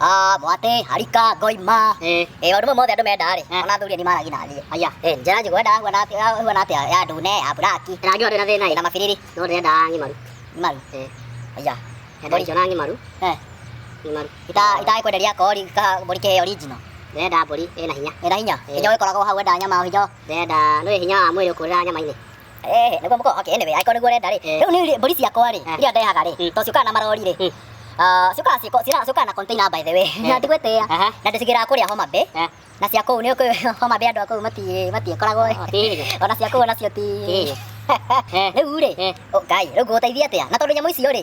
Ah, mwate harika ngoima eh eh wandu mothe andu menda ri ona thuri ni maragi na thie aya eh njera njigu enda huana ati huana ati ya ndune ya buraki na ngi na thina na mabiriri no ndenda ngi maru maru eh aya enda icio na ngi maru eh ngi maru ita ita ikwenderia kori ka mburi ke original ndenda mburi ina hinya ina hinya hinya wikoragwo hau enda nyama hinya ndenda no hinya wa mwiri ukurira nyama-ini Eh, niguo muko okay anyway aiko niguo renda ri riu ni mburi ciakwa ri iria ndehaga ri to ciukaga na marori ri Ah, ciukaga ciko cira ciukaga na container by the way na ndigwetea Aha. na ndicigiraga kuria homa bay Eh. na cia kũu nĩ ũkĩ- homa bay andũ a kũu mati- matiĩkoragwo Ah, tiĩrĩ. ona cia kũu onacio ti Tiĩrĩ. Eh. rĩu rĩ Eh. ngai rĩu ngũgũteithia atĩa na tondũ nyamũ icio rĩ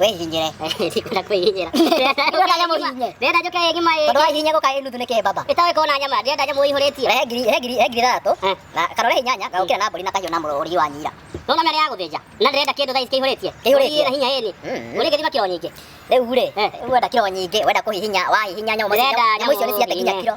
wĩhinyĩre ndikũra kwĩhinyĩra ndĩrenda nyamũ hinyĩ ndĩrenda njũke ngima ĩ tondũ wahihinya gũka ĩ nuthu nĩ kĩmbamba ĩtoĩ kona nyama ndĩrenda nyamũ ĩihũrĩtio rehe ngiri rehe ngiri rehe ngiri ithathatũ Eh. na kana rehe inyanya gagũkĩra na mbũri na kahiũ na mũrũri wa nyira nona mĩarĩ ya gũthĩnja na ndĩrenda kĩndũ thaa ici kĩihũrĩtie Kĩihũrĩtie. na hinya ĩni Mm. ũrĩ gĩthima kiro nyingĩ rĩu rĩ Eh. wenda kiro nyingĩ wenda kũhihinya wahihinya nyamũ Ndĩrenda nyamũ icio nĩ nyamũ ciate nginya hihinye. kiro